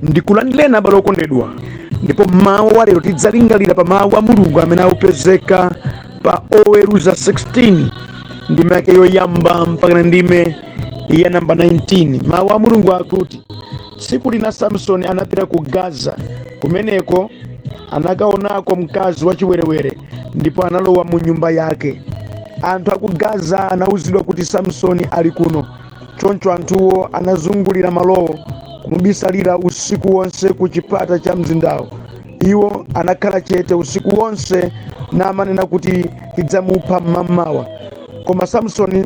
ndikulandileni abale okondedwa ndipo mawu wa lero tidzalingalira pa mawu a mulungu amene akupezeka pa oweruza 16 ndime yake yoyamba mpakana ndime ya namba 19 mawu a mulungu akuti tsiku lina samsoni anapita ku gaza kumeneko anakaonako mkazi wachiwerewere ndipo analowa mu nyumba yake anthu aku gaza anawuzidwa kuti samsoni ali kuno choncho anthuwo anazungulira malowo kumubisalira usiku wonse ku chipata cha mzindawo iwo anakhala chete usiku wonse namanena kuti tidzamupha mmamawa koma samsoni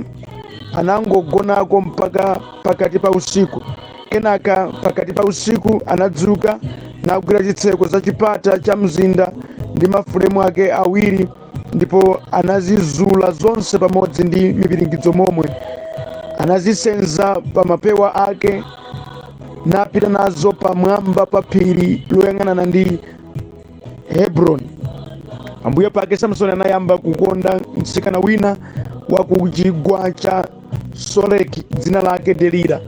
anangogonako mpaka pakati pa usiku. Kenaka pakati pa usiku anadzuka nagwira zitseko za chipata cha mzinda ndi mafulemu ake awiri ndipo anazizula zonse pamodzi ndi mipiringidzo momwe anazisenza pa mapewa ake napita nazo pamwamba pa phiri loyang'anana ndi hebroni pambuyo pake samsoni anayamba kukonda mtsikana wina wa ku chigwa cha Soreki, dzina lake Delila,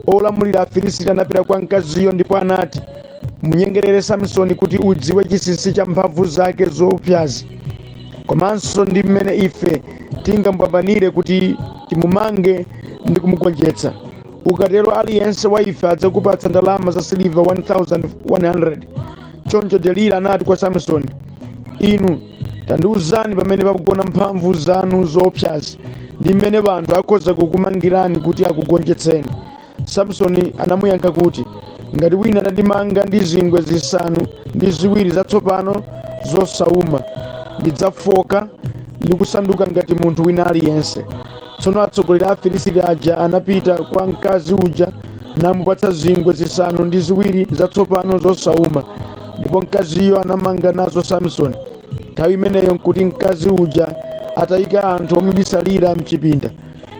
olamulira Afilisiti anapita kwa mkaziyo ndipo anati, munyengerere Samsoni kuti udziwe chinsinsi cha mphamvu zake zoopsazi komanso ndi mmene ife tingamupambanire kuti timumange ndi kumugonjetsa. Ukatero aliyense wa ife adzakupatsa ndalama za siliva 1,100. Choncho Delila anati kwa Samsoni, inu Tandiuzani pamene pakugona mphamvu zanu zoopsazi ndi mmene anthu akhoza kukumangirani kuti akugonjetseni. Samsoni anamuyankha kuti, Ngati wina atandimanga ndi zingwe zisanu ndi ziwiri zatsopano zosauma, ndidzafoka ndi kusanduka ngati munthu wina aliyense. Tsono atsogoleri a Afilisiti aja anapita kwa mkazi uja namupatsa zingwe zisanu ndi ziwiri zatsopano zosauma, ndipo mkaziyo anamanga nazo Samsoni. Nthawi imeneyo nkuti mkazi uja atayika anthu omubisalira mchipinda.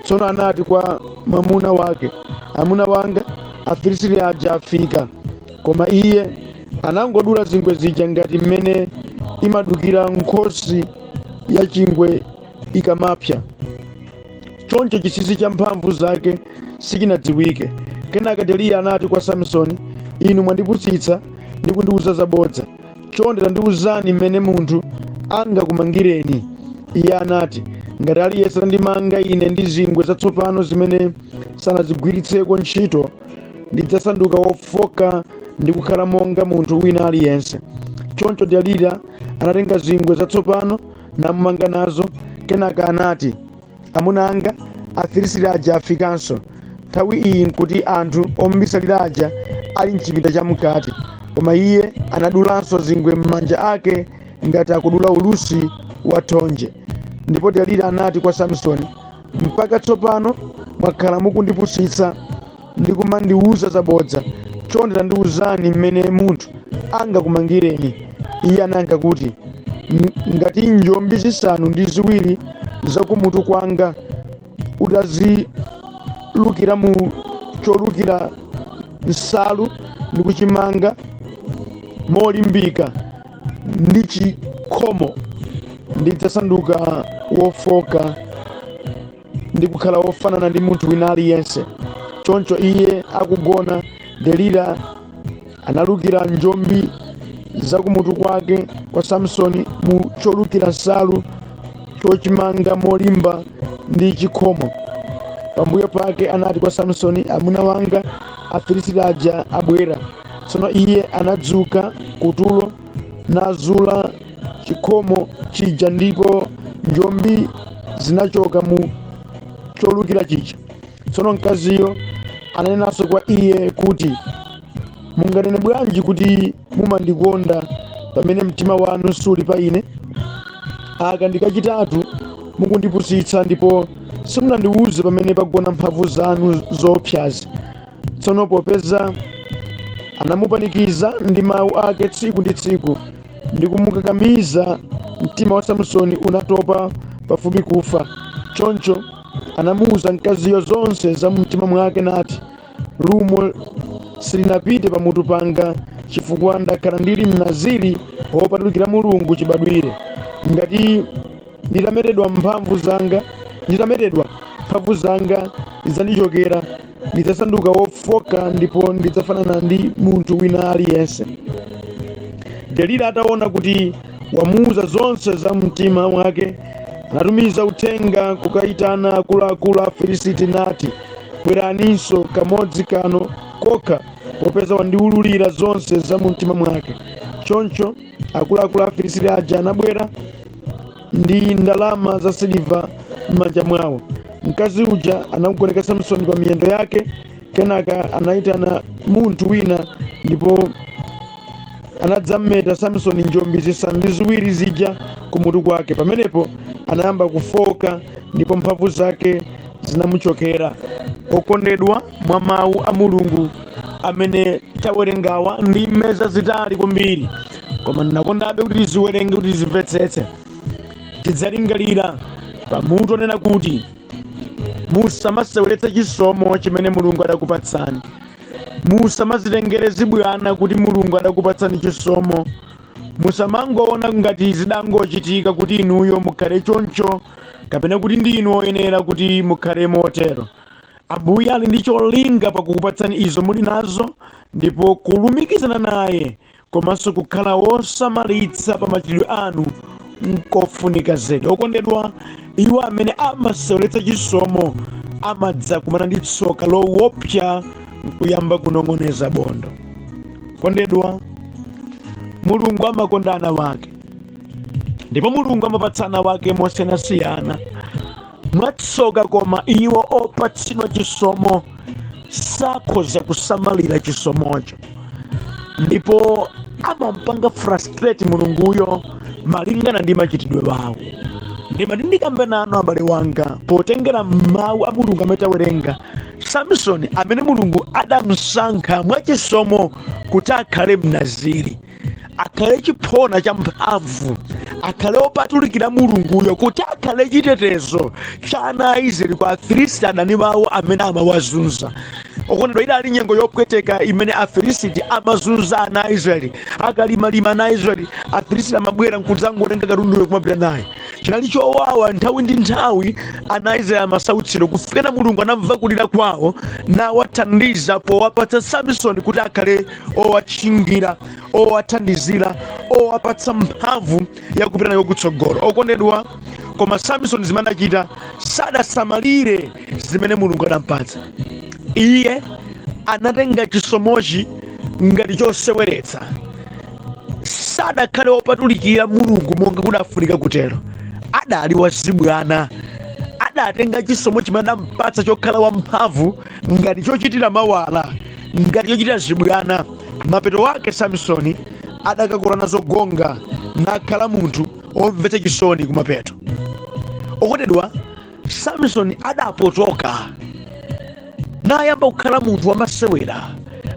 Tsono anati kwa mwamuna wake, Amuna wanga, Afilisiti aja afika. Koma iye anangodula zingwe zija ngati mmene imadukira nkhosi ya chingwe ikamapsa. Choncho chinsinsi cha mphamvu zake sichinadziwike. Kenaka Delila anati kwa Samisoni, Inu mwandipusitsa ndi kundiwuza zabodza. Chonde tandiwuzani mmene munthu angakumangireni. Iye anati, Ngati aliyense atandimanga ine ndi zingwe zatsopano zimene sanazigwiritseko ntchito, ndidzasanduka wofoka ndi kukhala monga munthu wina aliyense. Choncho Delila anatenga zingwe zatsopano namumanga nazo kenaka anati amuna anga afilisiti aja afikanso nthawi iyi nkuti anthu omubisalira aja ali mchipinda cha mkati koma iye anadulanso zingwe m'manja ake ngati akudula ulusi wa thonje ndipo delila anati kwa samsoni Mpaka tsopano mwakhala mukundipusitsa ndi kumandiuza zabodza. Chonde tandiuzani mmene munthu angakumangireni. Iye anayankha kuti, "Ng- Ngati njombi zisanu ndi ziwiri za kumutu kwanga utazilukira mu cholukira nsalu ndi kuchimanga molimbika, ndi chikhomo, ndidzasanduka wofooka ndi kukhala wofanana ndi munthu wina aliyense. Choncho iye akugona, Delila analukira njombi za kumutu kwake kwa Samsoni mu cholukira nsalu chochimanga molimba ndi chikhomo. Pambuyo pake anati kwa Samsoni, Amuna wanga Afilisiti aja abwera. Tsono iye anadzuka kutulo nazula chikhomo chija ndipo njombi zinachoka mu cholukira chija. Tsono mkaziyo ananenanso kwa iye kuti, Munganene bwanji kuti mumandikonda pamene mtima wanu suli pa ine? Aka ndi kachitatu mukundipusitsa ndipo simunandiwuze pamene pagona mphamvu zanu zoopsazi. Tsono popeza anamupanikiza ndi mawu ake tsiku ndi tsiku ndi kumukakamiza, mtima wa Samsoni unatopa pafupi kufa. Choncho anamuwuza mkaziyo zonse za mumtima mwake nati, Lumo silinapite pamutu panga chifukwa ndakhala ndili Mnaziri wopatulikira Mulungu chibadwire. Ngati nditametedwa mphamvu zanga, nditametedwa mphamvu zanga zidzandichokera. ndidzasanduka wofoka ndipo ndidzafanana ndi munthu wina aliyense delila ataona kuti wamuuza zonse za mumtima mwake anatumiza uthenga kukayitana akuluakulu afilisiti nati bweraninso kamodzi kano kokha popeza wandiwululira zonse za mumtima mwake choncho akuluakulu Afilisiti aja anabwera ndi ndalama za siliva m'manja mwawo. Mkazi uja anamugoneka Samsoni pa miyendo yake, kenaka anayitana munthu wina ndipo anadzameta Samsoni njombi zisanu ndi ziwiri zija kumutu kwake. Pamenepo anayamba kufoka ndipo mphamvu zake zinamuchokera. Okondedwa, mwa mawu a Mulungu amene tawerengawa ndime zazitali kwambiri koma ndinakondabe kuti tiziwerenge kuti tizimvetsetse tidzalingalira pa mutu onena kuti musamaseweretsa chisomo chimene mulungu adakupatsani musamazitengere zibwana kuti mulungu adakupatsani chisomo musamangoona ngati zidangochitika kuti inuyo mukhale choncho kapena kuti ndi inu oyenera kuti mukhale motero Ambuye ali ndi cholinga pa kukupatsani izo muli nazo, ndipo kulumikizana naye komanso kukhala wosamalitsa pa machitidwe anu nkofunika zedi. Okondedwa, iwo amene amaseweretsa chisomo amadzakumana ndi tsoka lowopsa nkuyamba kunong'oneza bondo. Okondedwa, Mulungu amakonda ana wake, ndipo Mulungu amapatsa ana wake mosiyanasiyana. Mwatsoka koma, iwo opatsidwa chisomo sakhoza kusamalira chisomocho ndipo amampanga frustrate mulunguyo malingana ndi machitidwe wawo ndimati ndikambe nanu abale wanga potengera mawu a mulungu amene tawerenga samsoni amene mulungu adamsankha mwachisomo kuti akhale mnaziri akhale chiphona cha mphamvu akhale opatulikira mulunguyo kuti akhale chitetezo cha ana a israeli kwa afilisti adani wawo amene amawazunza okondedwa idali nyengo yopweteka imene afilisiti amazunza ana a israeli akalimalima ana a israeli afilisiti amabwera nkudzangotenga katunduyo kumapita naye chinali chowawa nthawi ndi nthawi ana a israeli amasautsidwa kufikana mulungu anamva kulira kwawo nawathandiza powapatsa samisoni kuti akhale owatchingira owathandizira owapatsa mphamvu yakupita nayo kutsogolo okondedwa koma samisoni zimene adachita sadasamalire zimene mulungu adampatsa iye anatenga chisomochi ngati choseweretsa sadakhale wopatulikira mulungu monga kudafunika kutero adali wazibwana adatenga chisomo chimene adampatsa chokhala wamphamvu ngati chochitira mawala ngati chochitira zibwana mapeto ake samisoni adakakula nazo gonga nakhala munthu omvetsa chisoni kumapeto okondedwa samisoni adapotoka nayamba kukhala munthu wamasewera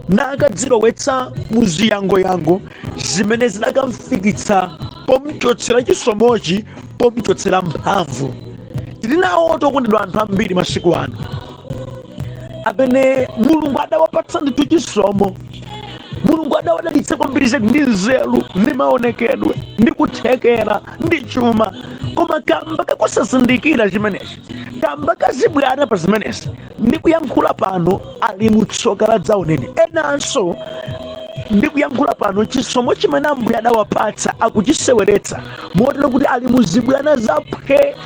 nakadzilowetsa muziyangoyango zimene zidakamfikitsa pomchotsera chisomochi pomchotsera mphamvu tili nawotu okondedwa anthu ambiri masiku ano amene mulungu adawapatsa ndithu chisomo mulungu adawadalitsa kwambiri zedi ndi nzeru ndi maonekedwe ndi kuthekera ndi chuma koma kamba kakusazindikira chimenechi kamba kazibwana pa zimenezi ndi kuyankhula pano ali mutsoka la dzaoneni enanso ndi kuyankhula pano chisomo chimene ambuye adawapatsa akuchiseweretsa motero kuti ali muzibwana zaphwe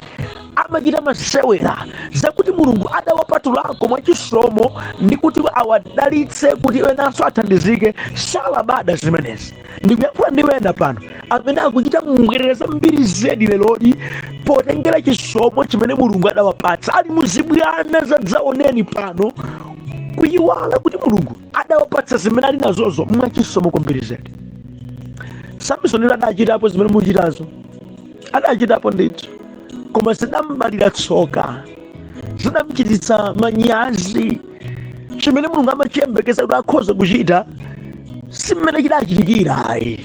amachita masewera zakuti mulungu adawapatulako mwachisomo ndi kuti awadalitse kuti enanso athandizike salabada zimenezi ndikuyankhula ndi wena pano amene akuchita mbwerera zambiri zedi leroli potengera chisomo chimene mulungu adawapatsa ali muzibwana zadzaoneni pano kuyiwala kuti mulungu adawapatsa zimene ali nazozo mwachisomo kwambiri zedi samisoni adachitapo zimene muchitazo adachitapo ndithu koma zidambalira tsoka zidamchititsa manyazi chimene mulungu amachiyembekeza kuti akhoza kuchita simene chidachitikira ayi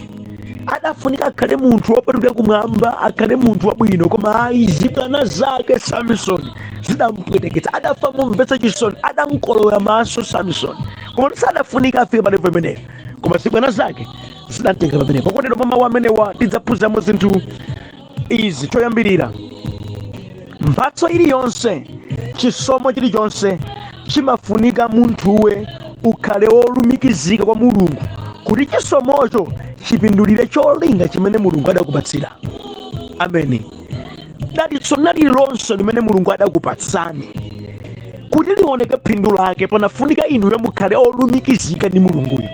adafunika akhale munthu wopatulika kumwamba akhale munthu wabwino koma ayi zibwana zake samisoni zidampweteketsa adafa momvetsa chisoni adamkolowera maso samisoni koma sadafunika afike palevo imeneyo koma zibwana zake zidamtengera pamenepo okondedwa mwa mawu amenewa tidzaphunziramo zinthu izi choyambirira mphatso iliyonse chisomo chilichonse chimafunika munthuwe ukhale wolumikizika kwa mulungu kuti chisomocho chipindulire cholinga chimene mulungu adakupatsira ameni dalitso lililonse limene mulungu adakupatsani kuti lioneke phindu lake panafunika inuyo mukhale olumikizika ndi mulunguyo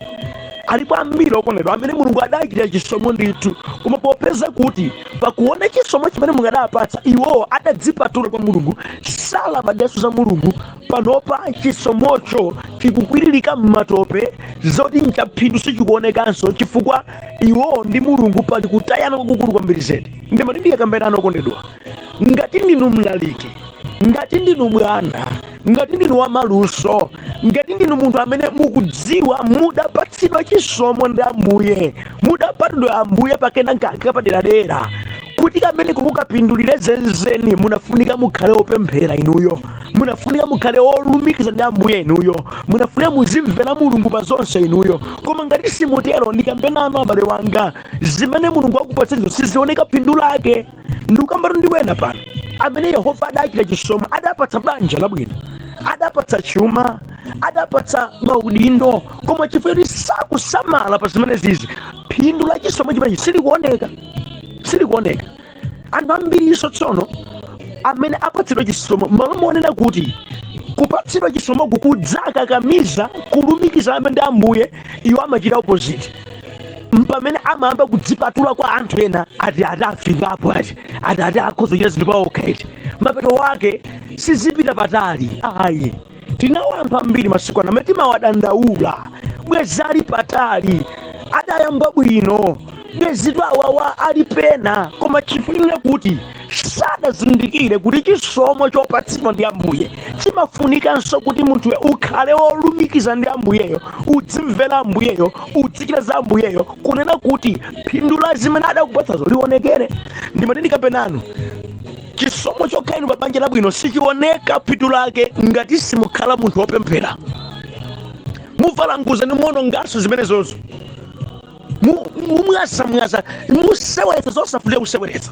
alipo ambiri okondedwa amene mulungu adachitira chisomo ndithu koma popeza kuti pakuona chisomo chimene mulungu adapatsa iwowo adadzipatula kwa mulungu salabadanso za mulungu Panopa chisomocho chikukwiririka m'matope, zoti n'chaphindu sichikuonekanso chifukwa iwo ndi Mulungu pali kutayana kwakukulu kwambiri zedi. Ndimati ndiyakambe nanu okondedwa, ngati ndinu mlaliki, ngati ndinu bwana, ngati ndinu wamaluso, ngati ndinu munthu amene mukudziwa mudapatsidwa chisomo ndi Ambuye, mudapatsidwa Ambuye pakenakake kapaderadera, kuti kameneko kukapindulire zenizeni, munafunika mukhale opemphera inuyo. munafunika mukhale wolumikiza ndi ambuye inuyo munafunika muzimvera mulungu pa zonse inuyo koma ngati simutero ndikambe nanu abale wanga zimene mulungu akupatsanizo sizioneka phindu lake ndikukambatu ndi wena pano amene yehova adachitira chisomo adapatsa banja labwino adapatsa chuma adapatsa maudindo koma chifukwa chakusasamala pa zimenezi phindu la chisomo chimenechi silikuoneka silikuoneka anthu ambirinso tsono amene apatsidwa chisomo m'malo monena kuti kupatsidwa chisomoku kudzakakamiza kulumikizana ndi ambuye iwo amachita opposite mpamene amayamba kudzipatula kwa anthu ena ati ati afikapo ati ati ati akhoza kuchita zinthu paokha eti mapeto ake sizipita patali ayi tinawo anthu ambiri masiku ano amene timawadandaula bwezi ali patali adayamba bwino bwezitu awawa ali pena koma chifukwa chonena kuti sadazindikire kuti chisomo chopatsidwa ndi ambuye chimafunikanso kuti munthuwe ukhale wolumikiza ndi ambuyeyo udzimvera ambuyeyo udzichita za ambuyeyo kunena kuti phindu la zimene adakupatsazo lionekere ndimati ndikapena inu chisomo chokhala inu pa banja labwino sichioneka phindu lake ngati simukhala munthu wopemphera muvalanguza ndithu muononganso zimenezozo mumwazamwaza museweretsa zosafunika kuseweretsa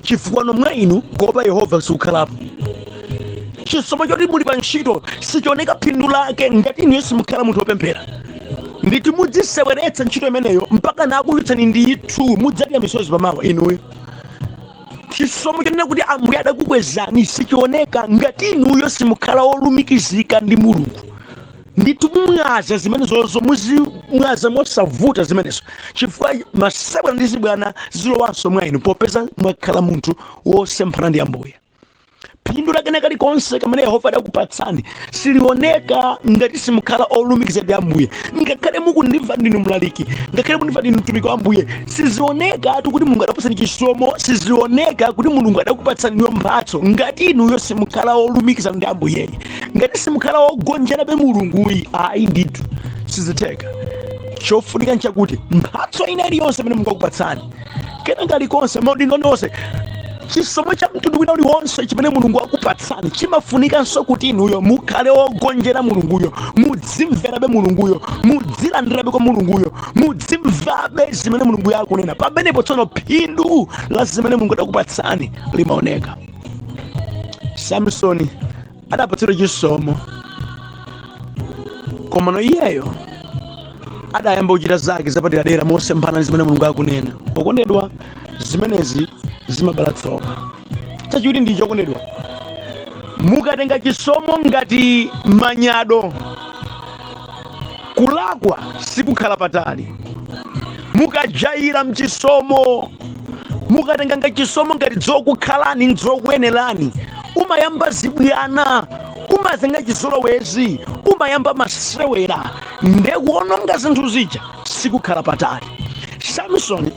chifukwa mwa inu kuopa yehova sikukhalapo chisomo choti muli pa ntchito sichioneka phindu lake ngati inuyo simukhala munthu wopemphera ndithu mudziseweretsa ntchito imeneyo mpaka nakuchotsani ndithu mudzadya misozi pamawa inuyo chisomo chonena kuti ambuye adakukwezani sichioneka ngati inuyo simukhala wolumikizika ndi mulungu ndithu mumwaza zimenezozo muzimwaza mosavuta zimenezo chifukwa masewera ndi zibwana zilowanso mwa inu popeza mwakhala munthu wosemphana ndi ambuye phindu la kena kalikonse kamene yehova adakupatsani silioneka ngati simukhala olumikiza ndi ambuye ngakhale mukundimva ndinu mlaliki ngakhale mukundimva ndinu mtumiki wa ambuye sizioneka kuti mulungu adakupatsani chisomo sizioneka kuti mulungu adakupatsani iyo mphatso ngati inuyo simukhala olumikiza ndi ambuyeyi ngati simukhala ogonjerabe mulunguyi ayi ndithu sizitheka chofunika nchakuti mphatso ina iliyonse imene mulungu akupatsani kena kalikonse maudindo ena aliwonse chisomo cha mtundu wina uliwonse chimene mulungu akupatsani chimafunikanso kuti inuyo mukhale wogonjera mulunguyo mudzimverabe mulunguyo mudzilandirabe kwa mulunguyo mudzimvabe zimene mulunguyo akunena pamenepo tsono phindu la zimene mulungu adakupatsani limaoneka samsoni adapatsidwa chisomo komano iyeyo adayamba kuchita zake zapaderadera mosemphana ndi zimene mulungu akunena okondedwa zimenezi zimabala tsoka chachiwiri ndicho okondedwa mukatenga chisomo ngati manyado Kulakwa sikukhala patali. Mukajaira mchisomo, mukatenga nga chisomo ngati zokukhalani nzokuyenerani, umayamba zibwana, umatenga chizolowezi, umayamba masewera nde kuononga zinthu zija sikukhala patali. Samson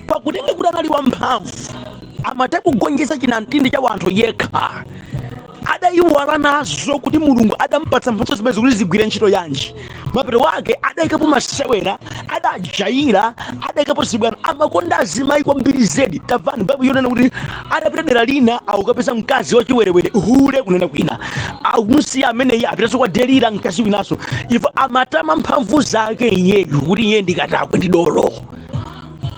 pakutenga kuti anali wamphamvu, amatha kugonjesa chinamtindi cha wanthu yekha. adaiwala nazo kuti mulungu adampatsa mphatso zimenezi kuti zigwire ntchito yanji mapeto ake adaikapo masewera adajaira adaikapo zibwana amakonda azimayi kwambiri zedi tamvani baibulo yonena kuti adapita dera lina akukapeza mkazi wachiwerewere hule kunena kwina akumusiya ameneyi apitanso kwa delila mkazi winanso iye amatama mphamvu zake iyeyu kuti iye ndikatakwe ndi dolo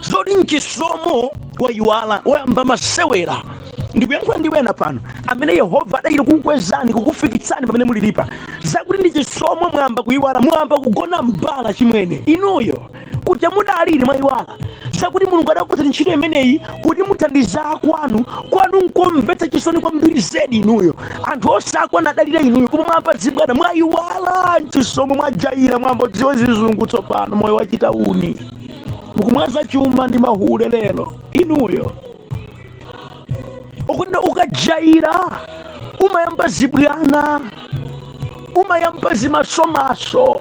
zoti nchisomo wayiwala wayamba masewera ndikuyankhula ndi ena pano amene yehova adachita kukukwezani kukufikitsani pamene mulilipa zakuti ndi chisomo mwayamba kuyiwala mwayamba kugona mbala chimwene inuyo kuja mudali mwayiwala zakuti mulungu adakupatsani ntchito imeneyi kuti muthandize akwanu kwanu nkomvetsa chisoni kwambiri zedi inuyo anthu onse akwanu adalira inuyo koma mwayamba zibwana mwayiwala nchisomo mwajayira mwayamba kudziwa zizungu tsopano moyo wachitauni mukumwaza chuma ndi mahule lero inuyo akuti ukajaira umayamba zibwana umayamba zimasomaso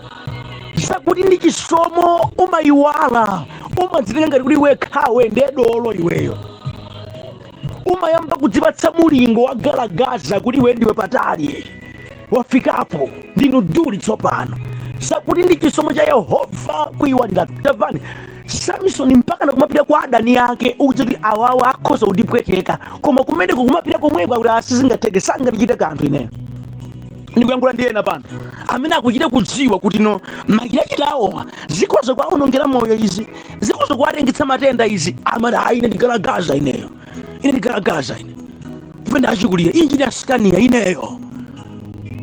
zakuti ndi chisomo umayiwala umadzitenga ngati kuti wekhawe nde dolo iweyo umayamba kudzipatsa mulingo wa galagaza kuti iwe ndiwe patali wofikapo ndinu duli tsopano zakuti ndi chisomo cha yehova kuyiwalira tamvani samisoni mpaka nakumapita kwa adani ake ukudziwa kuti awawa akhoza kundipweteka koma kumeneko kumapita komweko akuti a sizingatheke sangandichite kanthu ineyo ndikuyankhula ndi ena pano amene akuchita kudziwa kuti no machitachita awowa zikhoza kuwaonongera moyo izi zikhoza kuwatengetsa matenda izi amati ayi ine ndigalagaza ineyo ine ndigalagaza ine iii ndachikulira njii ndasikaniya ineyo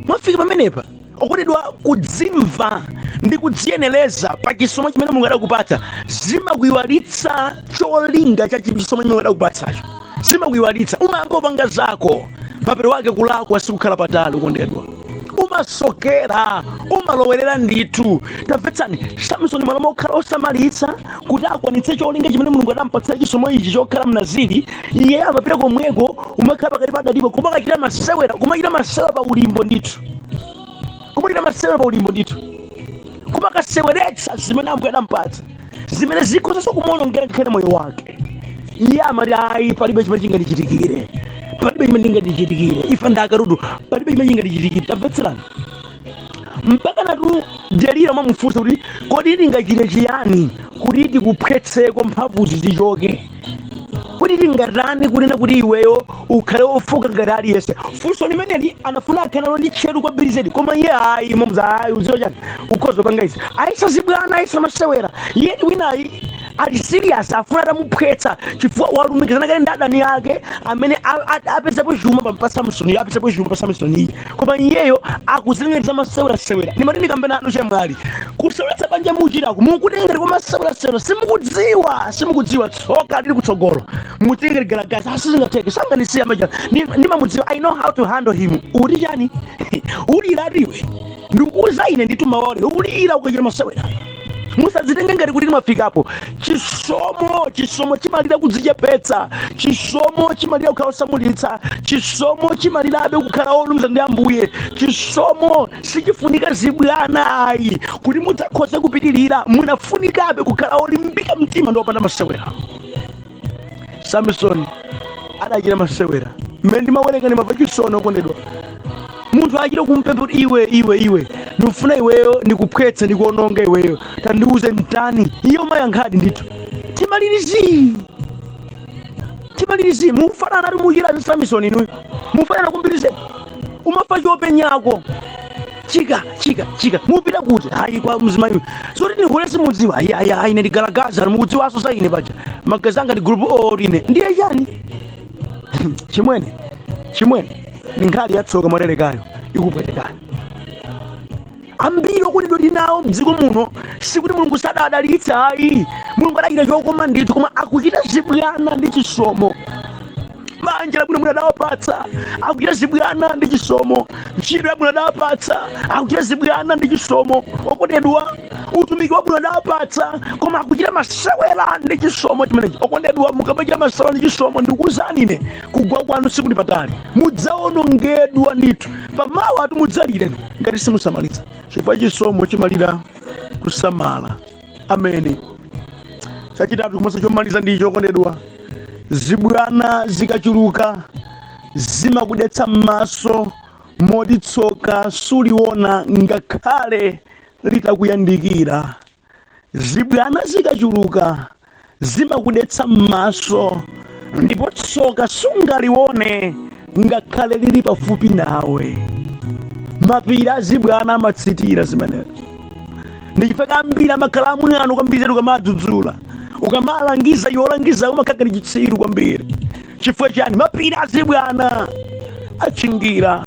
mwafika pamenepa okondedwa kudzimva ndi kudziyenereza pa chisomo chimene mulungu adakupatsa zimakuyiwalitsa cholinga cha chisomo chimene mulungu adakupatsacho zimakuyiwalitsa umayamba kupanga zako mapeto ake kulakwa sikukhala patali okondedwa umasokera umalowerera ndithu tamvetsani samsoni malo mokhala osamalitsa kuti akwanitse cholinga chimene mulungu adampatsira chisomo ichi chokhala mnaziri iye amapita komweko kumakakhala pakati pa adanipo kumakachita masewera kumachita masewera pa ulimbo ndithu kumachita masewera pa ulimbo ndithu kumakaseweretsa zimene ambuye adampatsa zimene zikhozanso kumuonongera ngakhale moyo wake iye amati ayi palibe chimene chingandichitikire palibe chimene chingandichitikire ife ndi akatundu palibe chimene chingandichitikire tamvetserani mpakanatu delila mwamufunsa kuti kodi tingachite chiyani kuti tikuphwetseko mphamvuzi zichoke kodi tingatani kunena kuti iweyo ukhale wofooka ngati aliyense funso limeneli anafuna akhanalo ndi tcheru kwambiri zedi koma iye ayi momuza ayi uziwa chani ukhoza panga izi ayesa zibwana ayesa masewera iye ndi winayi ali serious afuna atamuphwetsa chifukwa walumikizana kale ndi adani ake amene a- a- apezapo chuma pa- pa samsoni apezapo chuma pa samsoni koma iyeyo akuzitengera za masewerasewera ndimati ndikambe nanu chemwali kuseweretsa banja muchitako mukutengera kwa masewerasewera simukudziwa simukudziwa tsoka lili kutsogolo mutengere galagaza a sizingatheke sanganisiya maja ndimamudziwa i know how to handle him uti chani uliratu iwe ndikuuza ine ndithu mawali ulira ukachita masewera musadzitenge ngati kuti mwafikapo chisomo chisomo chimalira kudzichepetsa chisomo chimalira kukhala osamalitsa chisomo chimalirabe kukhala olunza ndi ambuye chisomo sichifunika zibwana ayi kuti mudzakhoze kupitirira munafunikabe kukhala olimbika mtima ndi opanda masewera samisoni adachita masewera mmene ndimawerenga ndimamva chisoni okondedwa munthu achita kumpempha kuti iwe iwe iwe ndikufuna iweyo ndikuphwetse ndikuononga iweyo tandiuze ntani iye umayankhadi ndithu timalirizi timalirizi mufananatu muchita ndi samisoni inuyo mufanana kumbirize umafa chopenyako chika chika chika mupita kuti hayi kwa mzimayi zoti ni hule simudziwa ayi ayi ayi ine ndi galagaza mukudziwanso za ine paja magazi anga ndi group o ine ndiye chani chimwene chimwene ni nkhali yatsoka mwaterekayo ikupwetekani ambiri okondedwa tinawo mdziko muno sikuti mulungu sadawadalitsa ayi mulungu adachita chokoma ndithu koma akuchita zibwana ndi chisomo banja labwino Mulungu adawapatsa akuchita zibwana ndi chisomo ntchito yabwino adawapatsa akuchita zibwana ndi chisomo okondedwa utumiki wabwino adawapatsa koma akuchita masewera ndi chisomo chimenechi okondedwa mukamachita masewera ndi chisomo ndikuwuzani ine kugwa kwanu sikuli patali mudzawonongedwa ndithu pamawatu mudzalire ngati simusamalitsa chifukwa chisomo chimalira kusamala ameni chachitatu komanso chomaliza ndicho okondedwa zibwana zikachuluka zimakudetsa m'maso moti tsoka suliona ngakhale litakuyandikira zibwana zikachuluka zimakudetsa m'maso, ndipo tsoka sungalione ngakhale lili pafupi nawe. Mapiri azibwana amatsitira zimenezo. Ndi chifukwa ambiri amakhala amwano kwambiri zedi ukamadzudzula. Ukamalangiza iwe olangiza umakhala ngati chitsiru kwambiri. Chifukwa chani? Mapiri azibwana achingira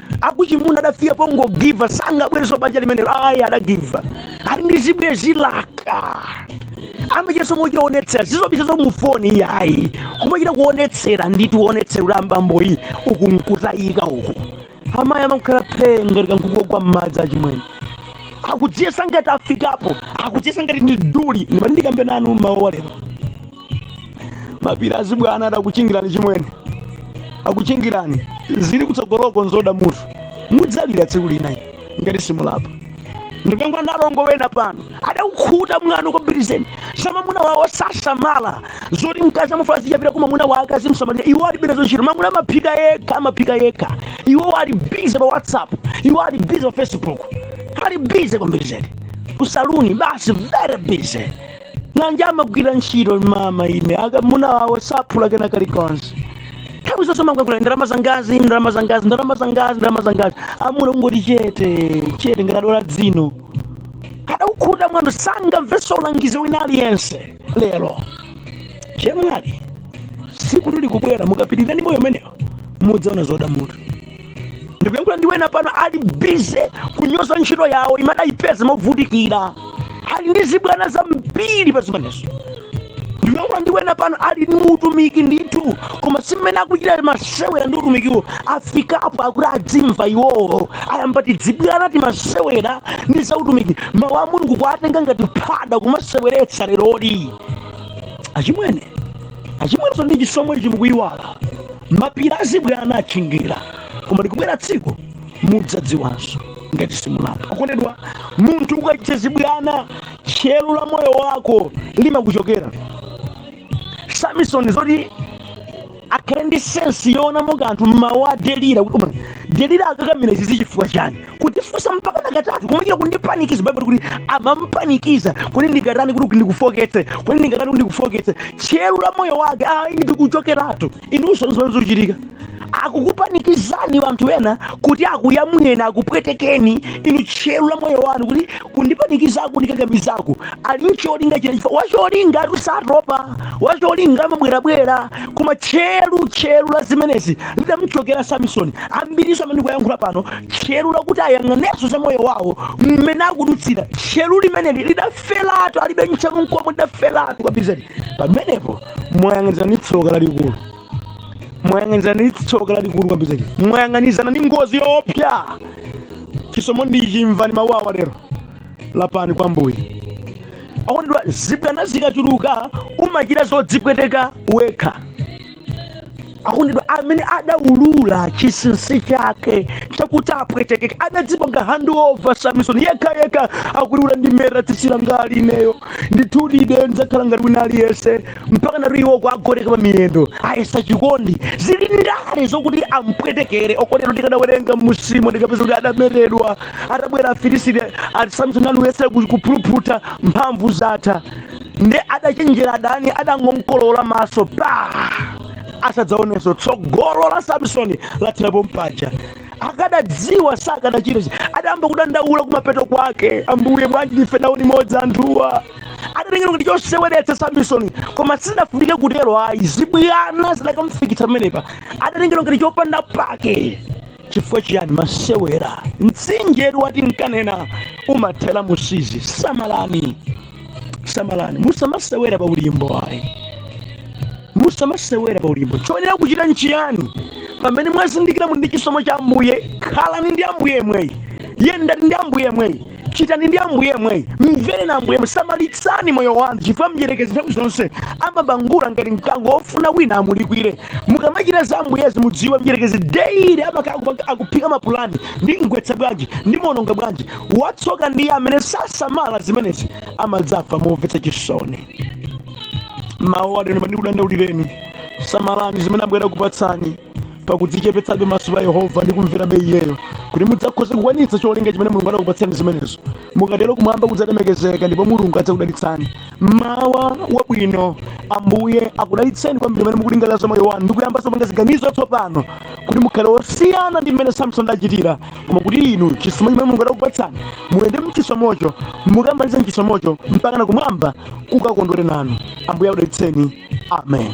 akuchimuna adafika pongogiva sangabwerenso banja limenelo ayi adagiva ali ndi zibwenzi zake amachitanso moonetsera si zobisa za mu foni iyayi kumachita kuonetsera ndithu kuonetsera kuti abambowa uku nkutayika uku amayi amakhala phee ngati kankhuku kogwa m'madzi achimwene akudziyesa ngati afikapo akudziyesa ngati ndi duli ndimati ndikambe nanu mmawa walero mapiri azibwana adakuchingirani chimwene akuchingirani zili kutsogoloko nzoda mutu mudzalira tsiku lina inu, ngati simulapa ndikamba ndi alongo wena pano adakukhuta mwano kwambiri zedi za mamuna wawo sasamala zoti mkazi amafuna azichapira mamuna wake azimsamalira iwo ali bize zochita mamuna amaphika yekha amaphika yekha iwo ali bize pa whatsapp iwo ali bize pa facebook ali bize kwambiri zedi kusaluni basi very busy nanji amagwira ntchito mama ine amuna wawo sapuma kena kalikonse nthawi zonse amangoyankhula ndalama zangazi ndalama zangazi ndalama zangazi ndalama zangazi amuna kungoti chete chete ngati azula dzino kadakukhuta mwano sangamvenso ulangizi wina aliyense lero chemwali tsiku lili kubwera mukapitiriza ndi moyo umenewo mudzaona zoda mutu ndikuyankhula ndi wena pano ali bize kunyoza ntchito yawo imene adayipeza movutikira ali ndi zibwana zambiri pa zimenezo ndikuyankhula ndi wena pano ali ndi utumiki ndithu koma zimene akuchita masewera ndi utumikiwo afikapo akuti adzimva iwowo ayamba tidzibwana timasewera ndi za utumiki mawu a mulungu kuwatenga ngati phada kumaseweretsa leroli achimwene achimwene nonse ndi chisomo ichi mukuyiwala mapiri azibwana achingira koma likubwera tsiku mudzadziwanso ngati simulapa okondedwa munthu ukachita zibwana tcheru la moyo wako limakuchokera samisoni zoti akhale ndi sensi yoonamo kanthu mmawu a delira kuti koma delira akakamira izi zichifukwa chani kundifunsa mpakana katatu kumachita kundipanikiza baibulo ikuti amampanikiza kuti ndingatani kuti ndikufooketse kuti ndingatani kuti ndikufooketse tcheru la moyo wake ndikuchokeratu inunso nzimene zikuchitika akukupanikizani anthu ena kuti akuyamwireni akupwetekeni inu tcheru la moyo wanu kuti kundipanikiza kundikakamizaku ali ncholinga china chifukwa wacholingatu satopa wacholinga amabwerabwera Koma tcheru, tcheru la zimenezi lidamchokera Samisoni. Ambirinso amene ndikuyankhula pano, tcheru lakuti ayang'anenso za moyo wawo mmene akudutsira, tcheru limeneli lidaferatu, alibe tcheru nkomwe, lidaferatu kwambiri zedi. Pamenepo mwayang'anizana ndi tsoka lalikulu, mwayang'anizana ndi tsoka lalikulu kwambiri zedi, mwayang'anizana ndi ngozi yoopsa. Chisomo ndi ichi, imvani mawu awa lero. lapani kwa mbuye akondedwa zibwana zikachuluka umachita zodzipweteka wekha akondedwa amene adaulula chinsinsi chake chakuti apwetekeke adadzipanga handover samison yekha yekha akuulula ndikameta tsitsi langali ineyo ndithudi ine ndidzakhala ngati wina aliyense mpaka natu iwo kumugoneka pa miyendo ayesa chikondi zili ndale zokuti ampwetekere okondedwa tikadawerenga m'munsimo tikapeza kuti adametedwa atabwera afilisiti ati samsoni adayesera ku- kuphiriphitha mphamvu zatha nde adachenjera adani adangomkolowola maso pa asadzaonenso tsogolo la samsoni lathera pompaja akadadziwa sakadachita chi- adayamba kudandaula kumapeto kwake ambuye bwanji ndife nawo limodzi anthuwa adatengedwa ngati choseweretsa samsoni koma sidafunike kutero ayi zibwana zidakamfikitsa pamenepa adatengedwa ngati chopanda pake Chifukwa chiyani? Masewera. Mtsinjetu wa tinkanena umathera mu Siizi. Samalani, samalani, musamasewera pa ulimbo ayi, musamasewera pa ulimbo. Choyenera kuchita nchiyani? Pamene mwazindikira muli ndi chisomo cha Ambuye, khalani ndi Ambuye yemweyi, yendani ndi Ambuye yemweyi. Chitani ndi Ambuye yemweyi. Mverani Ambuye yemweyi. Samalitsani moyo wanu chifukwa mdyerekezi nthawi zonse amabangula ngati mkango wofuna wina amulikwire. Mukamachita za Ambuyezi mudziwe mdyerekezi daily amakhala akuphika mapulani. Ndimgwetsa bwanji? Ndimuononga bwanji? Watsoka ndiye amene sasamala zimenezi amadzafa momvetsa chisoni. Mmawa uno ndikudandaulireni. Samalani zimene Ambuye akupatsani. pakudzichepetsabe maso pa yehova ndi kumverabe iyeyo kuti mudzakhoze kukwanitsa cholinga chimene mulungu adakupatsani zimenezo mukatero kumwamba kudzalemekezeka ndipo mulungu adzakudalitsani mawa wabwino ambuye akudalitseni kwambiri pamene mukulingalira za moyo wanu ndi kuyambanso kupanga ziganizo tsopano kuti mukhale osiyana ndi mmene samsoni adachitira koma kuti inu chisomo chimene mulungu adakupatsani muyende mchisomocho mukamalize mchisomocho mpaka na kumwamba kukakondwere nanu ambuye akudalitseni amen